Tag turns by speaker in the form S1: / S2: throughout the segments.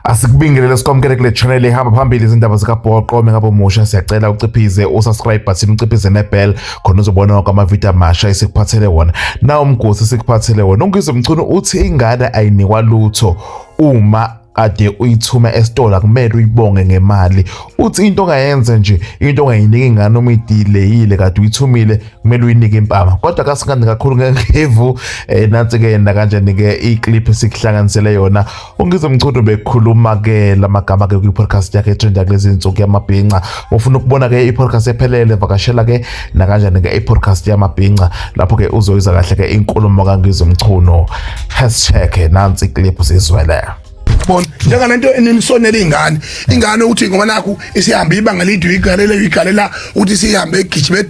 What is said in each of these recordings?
S1: Asikubingelele sikwamukele kule channel ehamba phambili izindaba zikabhoqo mengabe umusha siyacela uciphize usubscribe button uciphize nebell khona uzobona wonke amavidiyo amasha esikuphathele wona na umgosi esikuphathele wona uNgizwe Mchunu uthi ingane ayinikwa lutho uma ade uyithuma esitolo akumele uyibonge ngemali uthi into ongayenza nje into ongayiniki ingane uma idileyile kade uyithumile kumele uyinike impama kodwa kasikandi kakhulu ngevu eh, nansi ke yena kanjani ke iclip esikuhlanganisele yona UNgizwe Mchunu bekhuluma ke lamagama ke kwi podcast yakhe etrenda kulezi insuku yamabhinca. Ufuna ukubona ke i podcast ephelele vakashela ke nakanjani ke i podcast yamabhinca lapho ke uzoyiza kahle ke inkulumo kaNgizwe Mchunu. Hashtag nansi clip sizwele. Bona
S2: njengana into enisonela izingane. Ingane ukuthi ngoba nakhu isihamba ibanga lidwe igalela igalela ukuthi sihambe igijime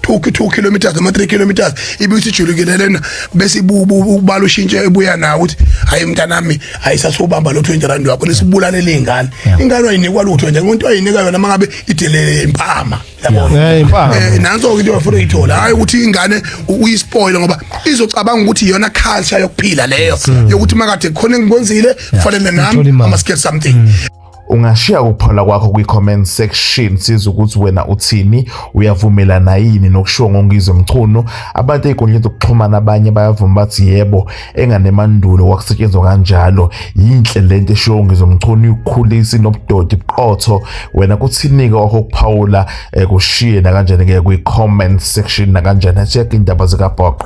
S2: 2 2 kilometers ama 3 kilometers ibisijulukile lena bese ibubu ubala ushintshe ebuya nawo ukuthi hayi mntanami ayisasubamba lo 20 rand wakho nisibulale lengane ingane ayinikwa lutho nje umuntu ayinika yona mangabe idelele impama yabona eh impama eh, nanso into yafuna ithola hayi ukuthi ingane uyispoil ngoba izocabanga ukuthi iyona culture yokuphila leyo yokuthi makade khona engikwenzile fanele nami ama skate something mm. Ungashiya
S1: ukuphola kwakho kwi-comment section siza ukuthi wena uthini uyavumelana yini nokushiwo ngoNgizwe Mchunu. Abantu ey'nkundleni zokuxhumana abanye bayavuma bathi yebo enganemandulo kwakusetshenzwa kanjalo. Yinhle le nto eshiwo uNgizwe Mchunu ikhulisi nobudodi buqotho. Wena kuthini-ke wakho ukuphawula eh, kushiye nakanjani-ke kwi-comment section nakanjani. Check iy'ndaba zikabhoqo.